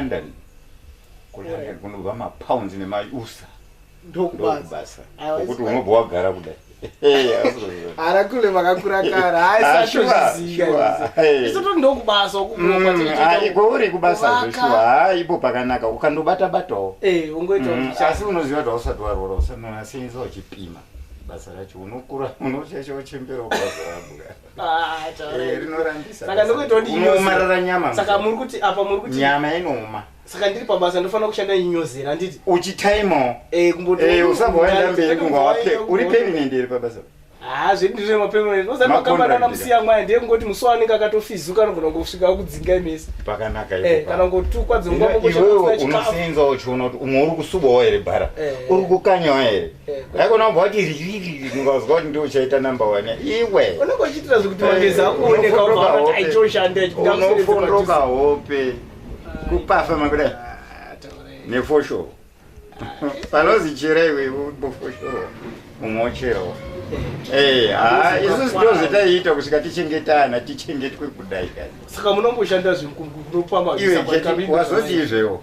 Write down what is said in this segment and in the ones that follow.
London kulondon kunobva mapounds nemausa ndokubasa okuti unobva wagara kudai ara kule vakakura kara haisatozviziisotondokubasaiko mm, ah, uri kubasa zveshuwa ha ipo pakanaka ukandobata batawo eh, mm, asi unoziva kuti hausati warwora usanonasenza uchipima basa racho unokura unoshasha uchembera ukazorabuka Eh, rinorambisa saka ndokuitawo ndinomarara nyama saka muri kuti apa muri kuti nyama inoma saka ndiri pabasa ndofanira kushanda inyozera anditi uchitaimawo eh, eh, usabva waenda mberi kunga wape uri permanent iri pabasa haa zvedu ndiri mapermanent ozati makambani anamusiya mwaya ndiye kungoti musi wanenge akatofizuka anogona kungosvika kudzinga imese pakanaka kana kungotukwa dzongwaiwewe unosinza uchiona kuti umwe uri kusubawo here bara uri kukanyawo here haikona kubva kuti ririri ndingaziva kuti ndiwe uchaita number one iwe unenge uchiitira zvekuti magezi akuoneka aitoshanda unofondoka hope kupafa makudai nefosho panozi chera iwe bofosho mumwe wocherawo eh, ah, isu sitozotaiita kusvika tichengetana tichengetwe kudai kaisaka munomboshanda zvemukuropamaiwazoti izvewo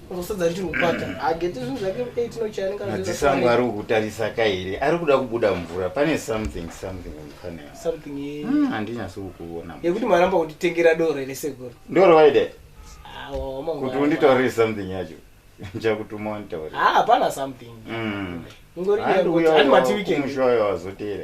unosadza richiri kukwata hageti zvinhu zvake 8 nochianika madziso angu ari kukutarisa kairi ari kuda kubuda mvura pane something something mufanira something hmm, handinyasi kukuona yekuti maramba kunditengera doro here sekuru ndoro vaide kuti unditaurire something yacho ndichakutuma wanditaurira hapana something hmm. ngori matiwikendmushoyo wazoteera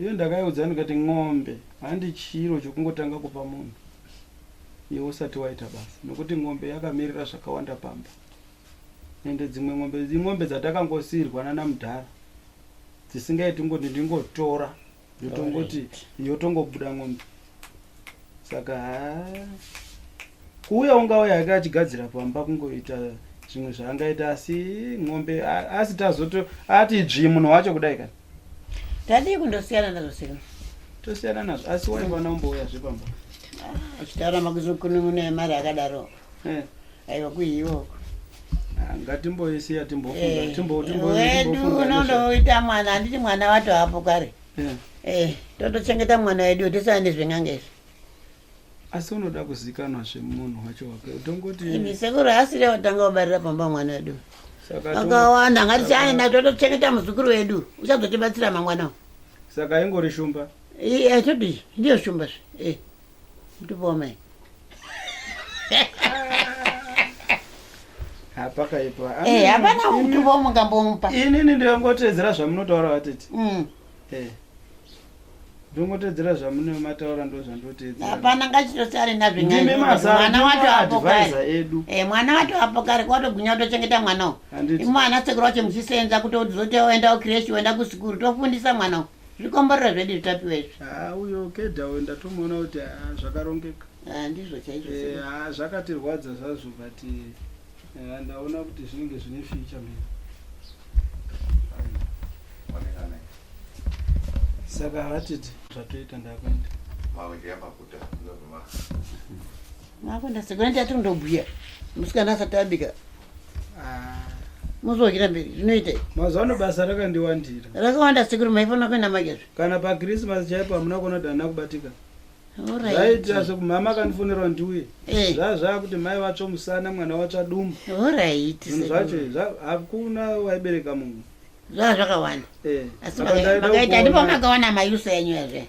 Iyo ndakaiudza ndikati n'ombe handi chiro chokungotanga kupa munhu iwe usati waita basa nokuti n'ombe yakamirira zvakawanda pamba ende dzimwe n'ombe in'ombe dzatakangosiirwa nanamudhara dzisingaiti ngoti ndingotora yotongoti yotongobuda n'ombe saka kuuya ungauya yake achigadzira pamba kungoita zvimwe zvaangaita asi mombe asi tazoto ati dzvi munhu wacho kudai kani tadii kundosiyana nazvo sino tosiyana nazvo asi waivana umbouya zve pamba ah, achitaura makuzokunun'una yemari akadaro eh. aiwa kuiwoko ah, ngatimboisiya timbofunga eh, timbowedu unondoita mwana handiti mwana wato hapo kare yeah. eh, totochengeta mwana wedu tisaende zven'anga izvi asi unoda kuzikanwa zvemunhu wacho wake utongoti sekuru haasiri watanga wabarira pamba mwana wedu akawanda ngatichaenda totochengeta muzukuru wedu uchazotibatsira mangwana saka ingori shumba eh, eh, todii ndiyo shumba zve eh. ndibome hapakaipa eh, hapana mutupo wamungambomupa inini ndinongotedzera zvamunotaura vatete mm. eh. ndongotedzera zvamune mataura ndo zvandotedza hapana ngachitosare nazvimimi mazamwana wato apo kare edu eh, mwana wato apo kare kwatogwinya kutochengeta mwana u imwana sekuru wacho muchisenza kuti uzote oenda ukreshi oenda kusikuru tofundisa mwana u zvikomborero zvedu zvitapiwa izvi haa uyo kedha uyo ndatomuona kuti haa zvakarongeka haa ndizvo chaizvo eh, haa zvakatirwadza zvazvo but haa eh, ndaona kuti zvinenge zvine ficha mhiri saka hatiti zvatoita ndakuenda makuenda sekuenda tati ndobhuya musikana asati abika muzovakira mberi zvinoita mazuva ano basa rakandiwandira rakawanda sekuru maifanira kuenda magezvo kana pakrismas chaipo hamuna kuona kuti hana kubatika zvaitira sekumhama akandifonera ndiuye eh. zvaa zvaa kuti mai vatsva musana mwana vatsva dumu zvinhu zvacho hakuna waibereka munhu zvaa zvakawanda eh. asi makaita ndipo makawana mayusa yanyu yazve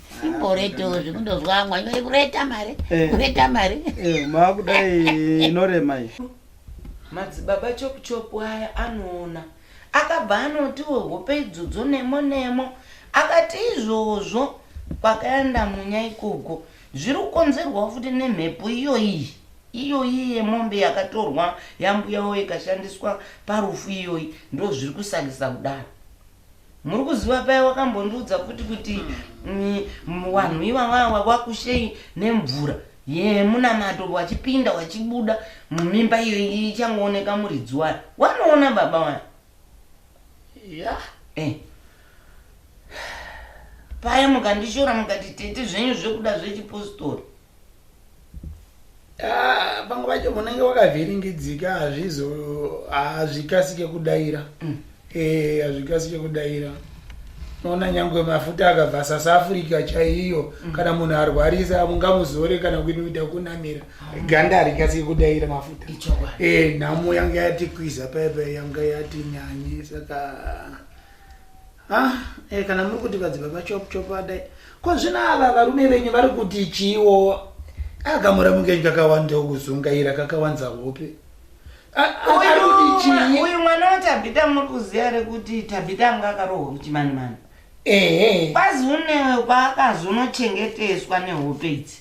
simboretewo zvekundozwa amwe anyore kureta mari eh. kureta mari eh, maakudai inorema iyi madzibaba chokuchopu aya anoona akabva anotiwo hope idzodzo nemo nemo akati izvozvo kwakaenda munya ikoko zviri kukonzerwawo futi nemhepo iyoiyi iyoyi yemombe yakatorwa yambuyawo ikashandiswa parufu iyoyi ndozviri kusakisa kudaro muri kuziva paya wakambondiudza futi kuti mm, vanhu ivavawa vakushei nemvura yemunamato vachipinda vachibuda mumimba iyo ichangooneka muridzi wayo wanoona baba wayo ya eh. paya mukandishora mukati tete zvenyu zvekuda zvechipostori Ah, pamwe pacho munenge wakavhiringidzika hazvizo hazvikasike kudaira mm. eh, hazvikasike kudaira noona nyangwe mafuta akabva south africa chaiyo mm. kana munhu arwarisa mungamuzore kana kuita kunamira mm. ganda harikasike kudaira mafuta eh, nhamo yanga yatikwiza paipa yanga yatinyanye saka Ah, eh, kana muri kuti vadzibva vachop chop vadai ko zvino ava varume venyu vari kuti chiwo agamura mukenyi kakawanda kuzungaira kakawanza hope A- a- ari kuti chii uyu mwana watabhita muri kuziva here kuti tabhita anga akarohwa kuchimanimani ehe kwazi unewe kwaakazonochengeteswa nehope idzi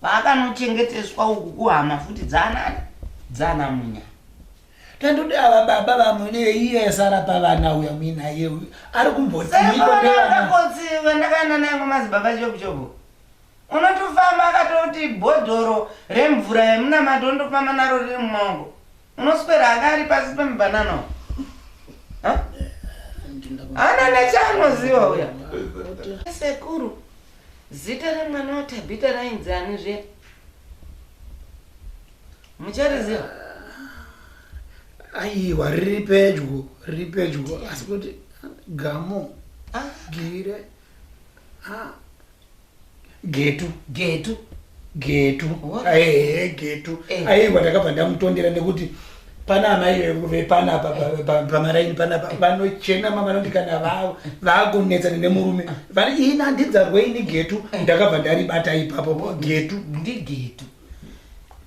kwaakanochengeteswa uku kuhama futi dzanani dzana munya Tandode ava baba vamwe neiye esara pavana uya muinaye uyu ari kumbotiikonevandakanana nangu mazibaba chobuchobu unotofamba akatoti bhodhoro remvura yemunamato unotofamba naro riri mumaoko unoswera anga ari pasi pemubhanana ana nechaanoziva uya sekuru zita remwana watabhita rainzi ani zve muchariziva aiwa riri pedyo riri pedyo asi kuti gamo ah. gire ah. getu getu getu aehe getu eh. aiwa ndakabva ndamutondera nekuti pana amai vepana pamaraini panapa vanochena ma vanoti kana vakunetsana nemurume vani ini handinzarweini getu eh. ndakabva ndaribata ipapo getu ndigetu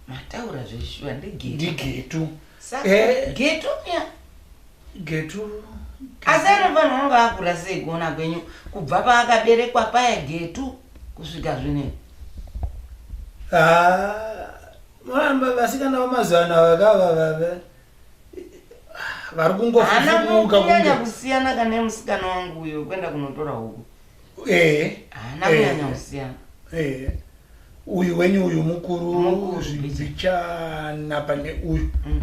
mataura zveshuwa ndegetu ndigetu Eh. getu ya getu asi ari vanhu vanga vakura sei kuona kwenyu kubva paakaberekwa paya getu kusvika zvinei Ah, mama vasikana vamazuva ano ava kava vave vari ana kungofufuka mukunyanya kunge kusiyana kane musikana wangu uyo kwenda kunotora huku eh ana eh. mwana usiyana eh uyu wenyu uyu mukuru zvichana pane uyu mm.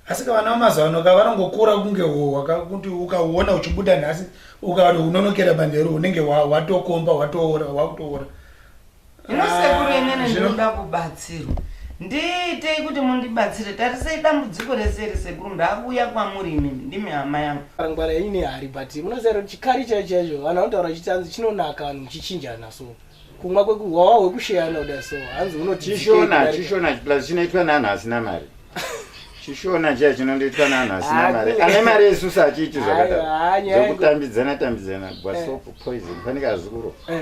asi ka vana vamazuva ano ka vanongokura kunge hohwa kakuti ukauona uchibuda nhasi ukati unonokera manheru unenge watokomba watoora wakutoora Hino sekuru inene ndinoda kubatsirwa. Ndiitei kuti mundibatsire tarisei dambudziko rese iri sekuru ndakuuya kwamuri imimi ndimi hama yangu. Ngwara ine hari but munoziva chikari chaicho chaicho vanhu vanotaura chitanzi chinonaka vanhu muchichinjana so kumwa kwekuhwawa hwekusheyana kuda so hanzi unochishona chishona plus chinoitwa neanhu asina mari chishona chiya chinondoitwa neanhu asina mari ane mari yesusa achiiti zvakadaro zvokutambidzana tambidzana bwasopo eh. poison fanika azukuro eh.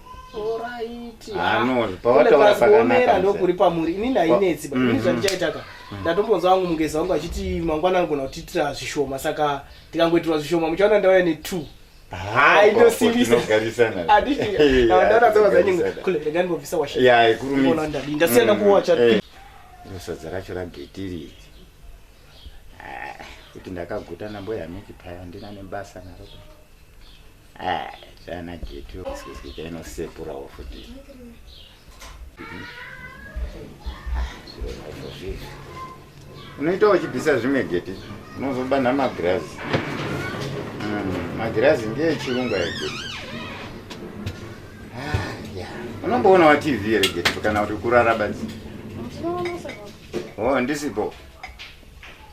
pawataurapakaomera ndokuri pamuri inini hainetsi ba ini zvandichaitaka ndatombonzwa wangu mungezi wangu achiti mangwana anogona kutiitira zvishoma saka tikangoitirwa zvishoma muchaona ndauya netwo ndasiyana kuwacha sadza racho rageti rii ah, kuti ndakaguta namboyamiki paya ndina nebasa naro Ah, chana getu sikisika inosepurawo futi unoita uchibvisa zvimwe geti unozobanha magirazi hmm, magirazi ngeechirungu ayo geti ah, unomboona wa tv here geti kana kuti kurara badzi o oh, ndisipo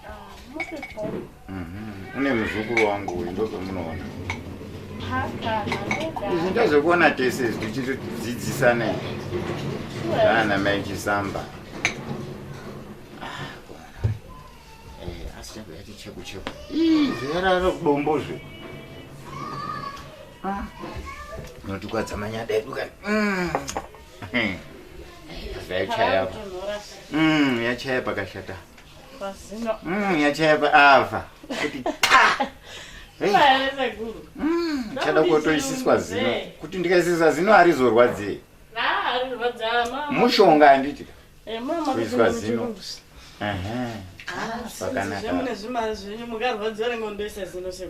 ah, Mhm. une muzukuru wangu uyu ndozvamunoona izvi ndozvekuona tese izvi tichitodzidzisane zvaana mai chisamba Ah, kuona. Eh, asi chako yati cheku cheku Ii, zverara kudombo zve Ah, unotikwadza manyada edu kani Mm. Eh, yachaya apa. Mm, yachaya pakashata Mm, yachayapa ava kuti chada kutoisiswa zino kuti ndikaisisa zino harizorwadzei mushonga handiti kuiswa zino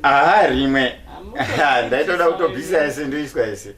haa rimwe ndaitoda kutobvisa ese ndoiswa ese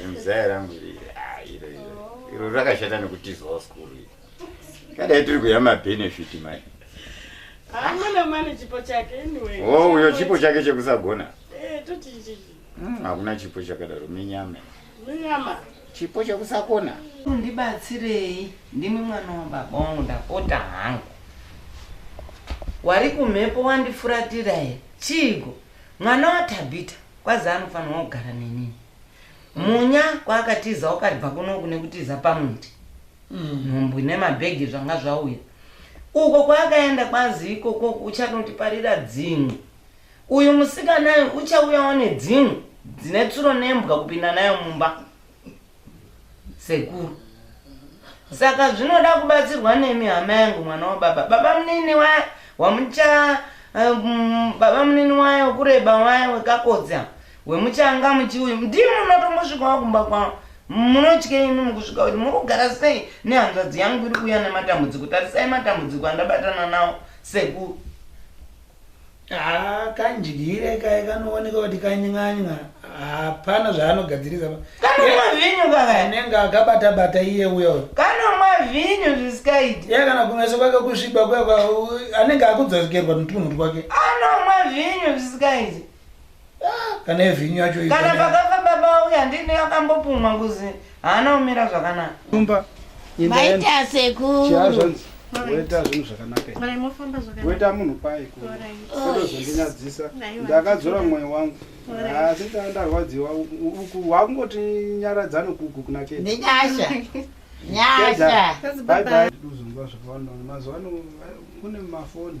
zimuzaya rangu iri ah, iro iro iro rakashata nekutizwawo skuru iri kadai tiri kuya mabenefit mani hamuna mani chipo chake anyway wo uyo chipo chake chekusagona Eh, toti ichi Mm, hakuna chipo chakadaro minyama minyama chipo chekusakona undibatsirei ndimi mwana wababa wangu ndapota hangu wari kumhepo wandifuratira here chiiko Mwana waThabita kwazi anofanirwa kugara neni. Munya kwaakatiza wakaribva kuno kune kutiza pamwete. Nhumbu nemabhegi zvanga zvauya. Uko kwaakaenda kwazi ikoko uchanotiparira dzimwe. Uyu musikana uyu uchauyawo nedzimwe dzine tsuro nembwa kupinda nayo mumba. sekuru saka zvinoda kubatsirwa nemi hama yangu mwana wababa baba munini waya wamucha um, baba munini waya wekureba waya wekakodza wemuchanga muchiuyu ndimi munotombosvikawo kumba kwavo munotye imi mukusvika kuti muri kugara sei nehanzvadzi yangu iri kuuya nematambudziko tarisai matambudziko andabatana nawo sekuru Haa kandyire kaye kanooneka kuti kanyanya hapana zvaanogadzirisa kanomwa vhinyu kakanenge akabata bata iye uya uyo kanomwa vhinyu zvisikaiti iye kana kumeso kwake kusviba kwekwa anenge akudzokerwa netunhu twake anomwa vhinyu zvisikaiti Ah, kana evhinyu yacho iyi kana kana- pakafa baba uya ndini akambopumwa kuzi haana kumira zvakanaka Nyumba imba yangu. Maita sekuru. Chiya zvanzi woita zvinhu zvakanaka ere? Mai mofamba zvakanaka. woita munhu pai ku- Alright. kutozondinyadzisa Aiwa. ndakadzora mwoyo wangu Alright. asi ndaa ndarwadziwa u- u- uku wakungoti nyaradza nokuku kuna chete Nenyasha. Nyasha. Bye bye. Ndozonzwa zvakawanda mazuva ano kune mafoni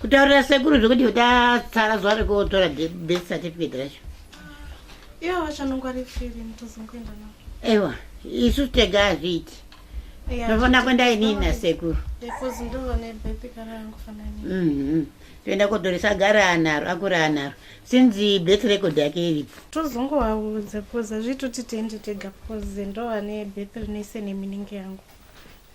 kutaurira sekuru zvekuti tatsara zuva rekuotora birth certificate racho ivo vachanongwari firi mutozongoenda navo ewa isu tega hazviiti tofanira kuenda inini nasekuru mhm. toenda kodhoresa gara anaro akuri anaro sinzi birth record yake iripo tozongovaudza bcoz azviitoti tiende tega bcoz ndovane birth rinoise neminenge yangu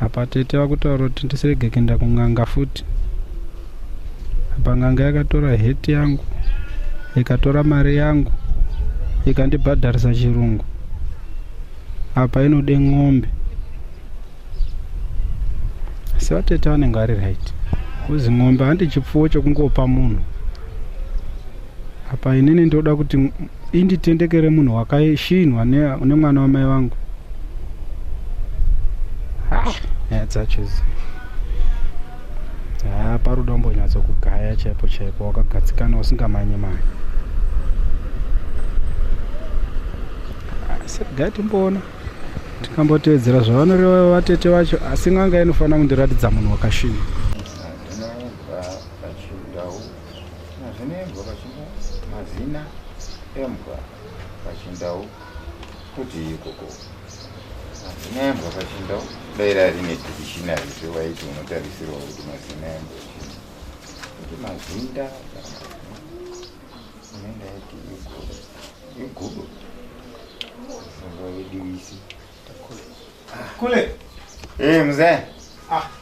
apa tete vakutaura kuti ndisirege kuenda kun'anga futi apa n'anga yakatora heti yangu ikatora mari yangu ikandibhadharisa chirungu apa inode n'ombe asi vatete vanenge vari right kuzi n'ombe handi chipfuwo chekungopa munhu apa inini ndoda kuti inditendekere munhu wakashinhwa nemwana wamai vangu ah, nyaya dzacho izi haa parudo umbonyatso kugaya chaipo chaipo wakagadzikana usingamanye manye asi regai timboona tikambotevedzera zvavanoreva vatete vacho asi n'anga inofanira kundiratidza munhu wakashinha Mazina embwa pachindau. Mazina embwa pachindau kuti ikoko. Mazina embwa pachindau. Dai rari nedictionary zve waiti unotarisirwa kuti mazina embwa chii. Kuti mazinda unenge aiti igudo. Igudo. Sanga vediwisi. Kule. Eh, mzee. Ah.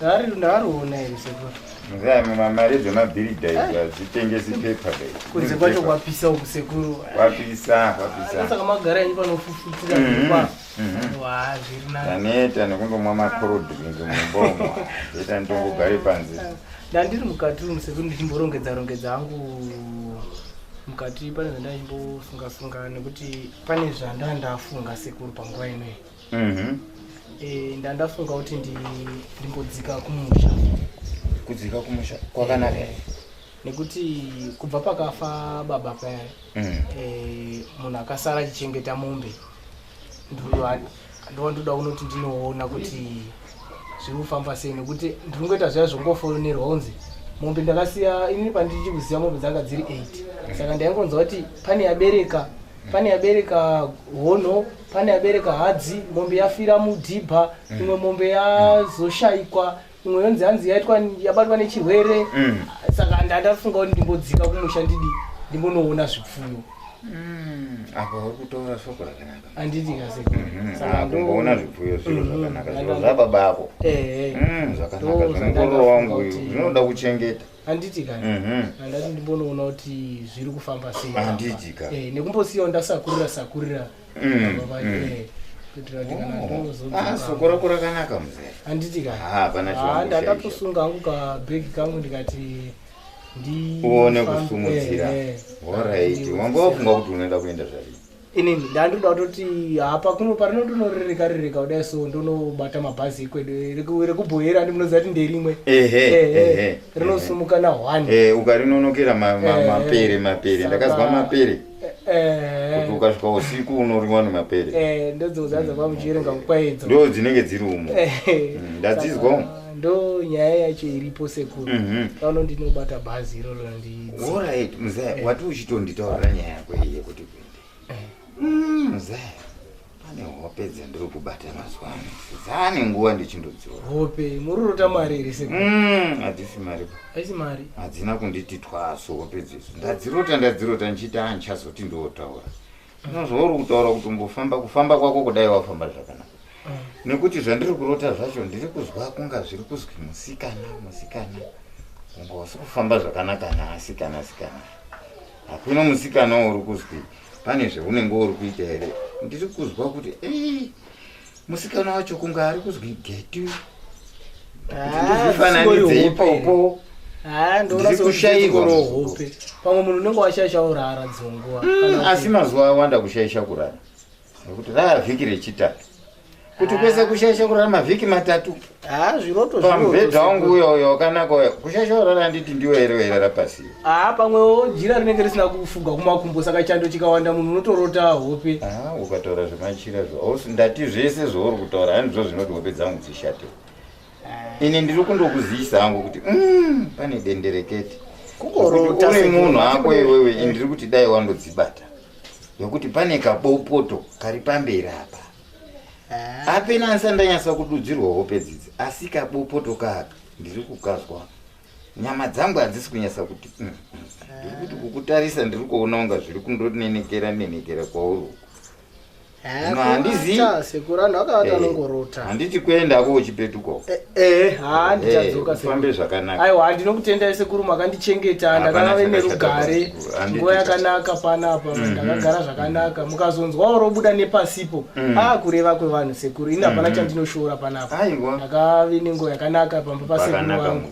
Dari ndariona here sekuru? Mzee mama mari dzemabhiri dai dzitengesi pepa dai. Kunze kwacho kwapisa uku sekuru. Kwapisa, kwapisa. Saka magara yenyu panofufutira mhm, kwa. Mhm. Wa zviri nani. Taneta nekundomwa macold drink mumbomo. Zeta ndongogare panze. Ndandiri mukati umu sekuru ndichimborongedza rongedza hangu mukati pane zvandaichimbosunga sunga nekuti pane zvandandafunga sekuru panguva inoyi. Mhm. Eh, ndandafunga kuti ndi- ndimbodzika kumusha kudzika kumusha kwakanaka here nekuti kubva pakafa baba paya Mhm. eh, munhu akasara achichengeta mombe ndova- ndova ndoda kunoti ndinoona kuti zviri kufamba sei nekuti ndiri kungoita zviya zvongofonerwa kunzi mombe ndakasiya ini pandichikuziva mombe dzanga dziri 8 saka ndaingonzwa kuti pane yabereka pane yabereka hono pane yabereka hadzi mombe yafira mudhibha mm. imwe mombe yazoshaikwa imwe yonzi hanzi yaitwa yabatwa nechirwere mm. saka ndandafunga kuti ndimbodzika kumusha ndidi ndimbonoona zvipfuyo mm. apa uri kutaura soko rakanaka handiti kasekumboona mhm. zvipfuyo zviro mhm. zvakanaka zviro zvababa ako eh, eh. zvakanaka zvinongororo wangu zvinoda kuchengeta handiti ka mhm. handati ndimbonoona kuti zviri kufamba sei handiti ka eh, nekumbosiyawo ndasakurira sakurira mm, mm. Eh, ah, soko rako rakanaka muzee handiti ka ah, ah, ndandatosunga hangu kabhegi kangu ndikati uone kusumudzira eh, horaiti wanga wafunga kuti unoenda kuenda zvavii inini ndandoda kutoti hapa kuno parino ndonorereka rereka kudai so ndonobata mabhazi ikwedu rekubhoyera ndi munoziva kuti nderimwe rinosumuka na one eh, ukarinonokera mapere mapere ndakazwa mapere kuti ukasvika usiku unoriwa nemapere eh, ndodzozaza mm. kwamuchierenga kukwaidzo ndo dzinenge dziri umo eh, mm, ndadzizwa umo ndo nyaya yacho iripo sekuru mhm. pano ndinobata bhazi iroro ndiioriht muzaya wati uchitonditaurira nyaya yako iye kuti Mm. pane hope dzandiri kubata mazuva ano dzaane nguva ndichindodziwa hope mururota mari here se mm, hadzisi mari haisi mari hadzina kunditi twaso hope dzesu ndadzirota ndadzirota ndichiti a ndichazoti ndootaura inozvauri kutaura kuti umbofamba kufamba kwako kudai wafamba zvakanaka mm. nekuti zvandiri kurota zvacho ndiri kuzwa kunga zviri kuzwi musikana musikana unga wasi kufamba zvakanaka nhaasikana sikana, sikana. hakuna musikana wauri kuzwi pane zvaunenge uri kuita here ndiri kuzwa kuti ei musikana wacho kunge ari kuzwi getu ndizvifananidze ipopo ndirikushairwahope pamwe munhu unenge washaisha urara dzonguva hmm, asi mazuva awanda kushaisha kurara nekuti rava vhiki rechitatu kuti ah. kwese kushaisha kurara mavhiki matatu ah, pamubhedha wangu uyo uyo wakanaka uyo kushaisha kurara handiti ndiwo here wairara pasi aa ah, pamwewo jira rinenge risina kufuga kumakumbo saka chando chikawanda munhu unotorota hope ukataura zvemachira zvo ndati zvese zvouri kutaura handizvo zvinoti hope dzangu dzishate ini ndiri kundokuziyisa hangu kuti mm, pane denderekete uri munhu ako iwewe ndiri kuti dai wandodzibata nokuti pane kabopoto kari pamberi apa ah. apena handisa ndanyasa kududzirwa hope dzidzi asi kabopoto kaka ndiri kukazwa nyama dzangu hadzisi kunyasa kuti mm, mm. ndiri kuti kukutarisa ndiri kuona unga zviri kundonenekera nenekera kwauri uku Hino handizi- Kurota, sekuru anhu akavati Eh. anongorota handiti kuenda ko uchipetuka uko Eh, eh haa Eh, ndichadzoka ufambe sekuru zvakanaka aiwa ndinokutendai sekuru makandichengeta Hapana ndakava ine chakashata rugare basa, sekuru. Handiti nguva chakashata. yakanaka panapa ndakagara zvakanaka mukazonzwawo robuda nepasipo Mhm. aa kureva kwevanhu sekuru ini hapana Mhm. chandinoshora panapa Aiwa. ndakave nenguva yakanaka pamba pasekuru Pakanaka vangu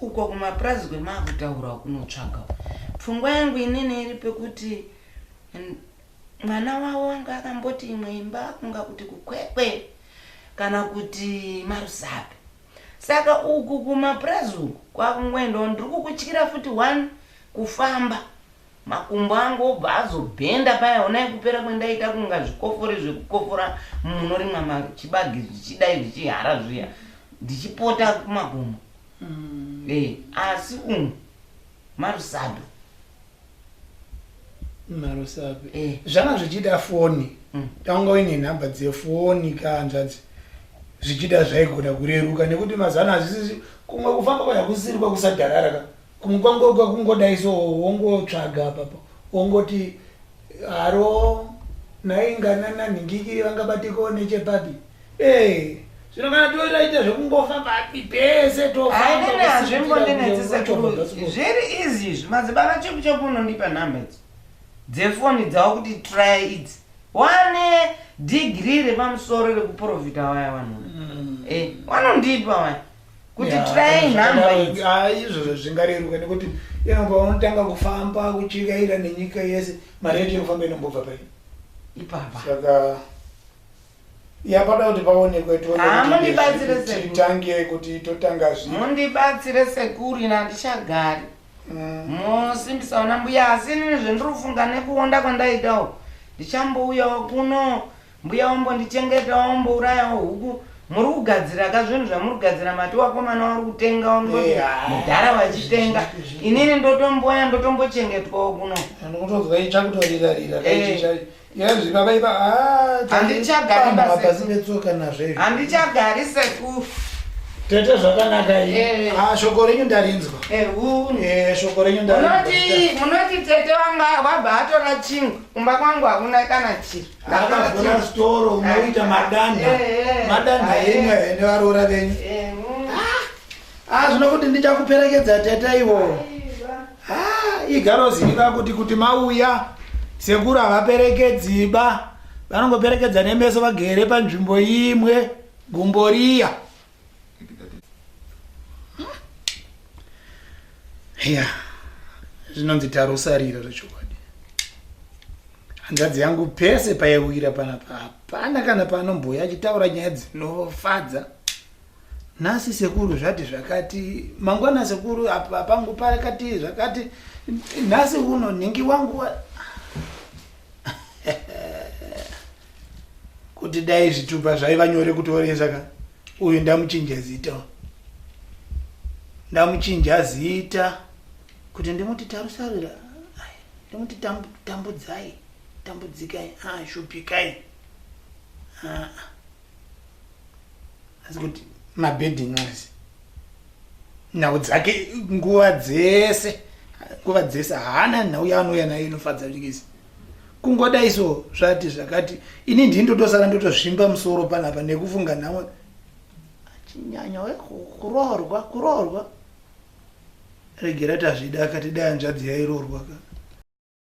Uko kumapurazi kwemavutaura ukunotsvaga pfungwa yangu inini iri pekuti mwana wavo anga akamboti imwe imba kunga kuti kukwekwe kana kuti marusape saka uku kumapurazi uku kwakungoendawo ndiri kukutyira futi one kufamba Makumbo angu obva azobhenda paya honai kupera kwendaita kunga zvikofore zvekukofora munorimwa machibagi zvichidai zvichihara zviya ndichipota kumakumbo mm. e, asi umu marusado marusado e. Eh. zvanga zvichida foni mm. tanga uine nhamba dzefoni kaanzvadzi zvichida zvaigona kureruka nekuti mazano hazvisizi kumwe kufamba kwayakusiri kwakusadharara ka Kumwe kwangu kwakungodai so wongotsvaga apapo wongoti haro nhai nganana nhingikiri vangabatiko nechepapi ee zvino kana toitaita zvekungofa papi pese tofambazviri easy izvi madzibaba cheku cheku unondipa nhamba idzi dzefoni dzavo kuti try idzi wane digiri repamusoro rekuprofita waya vanhu mm. eh, wanondipa waya kuti try nhamba ah, izvozvo zvingareruka nekuti yangu unotanga kufamba kuchikaira nenyika yese mari yacho inofamba inombobva pai ipapa saka yapada kuti paonekwe titange kuti totanga zvi mundibatsire sekuru ina handichagari mm. mosimbisaona mbuya asi inini zvendiri kufunga nekuonda kwandaitawo ndichambouyawo kuno Mbuya ombondichengeta ombourayawo huku muri kugadzira ka zvinhu zvamuri kugadzira mati wakomana wari kutenga wamudoti Eh, ah, mudhara vachitenga zvizvi, zvizvi. inini ndotomboya ndotombochengetwawo kuno Ndikutonzwa itsva kutorira rira. Eh. Yazvi baba iba ah. Handichagari basi. Mabhazi betsoka nazvo izvi. handichagari seku Tete zvakanaka Eh. iyi. Ah shoko renyu ndarinzwa. ehuni Eh shoko renyu ndarinzwa. munoti munoti tete wanga wabva atora chingwa kumba kwangu hakuna kana chiri akavhura storo unoita madanha madanha enyu ayo nevaroora venyu hazvino kuti ndichakuperekedza teta ivo igaroziva kuti kuti mauya sekuru havaperekedziba vanongoperekedza nemeso vagere panzvimbo imwe gumboriya ya zvinonzi tarosarira zvechokwadi hanzvadzi yangu pese paiwira panapa hapana kana paanombouya achitaura nyaya dzinofadza nhasi sekuru zvati zvakati mangwana sekuru apa pangu pakati zvakati nhasi uno nhingi wangu wa... kuti dai zvitupa zvaiva nyore kutoresa ka uyu ndamuchinja zita ndamuchinja zita kuti ndimuti tarusarira ndimuti tambudzai tambudzikai ashupikai ah, ah. asi kuti mabedi nxisi nhau dzake nguva dzese nguva dzese haana nhau yaanouya nayo inofadza nxisi kungodai so zvati zvakati ini ndii ndotosara ndotozvimba musoro panapa nekufunga nhau achinyanya kuroorwa kuroorwa regera tazvida akati dai hanzvadzi yairorwa ka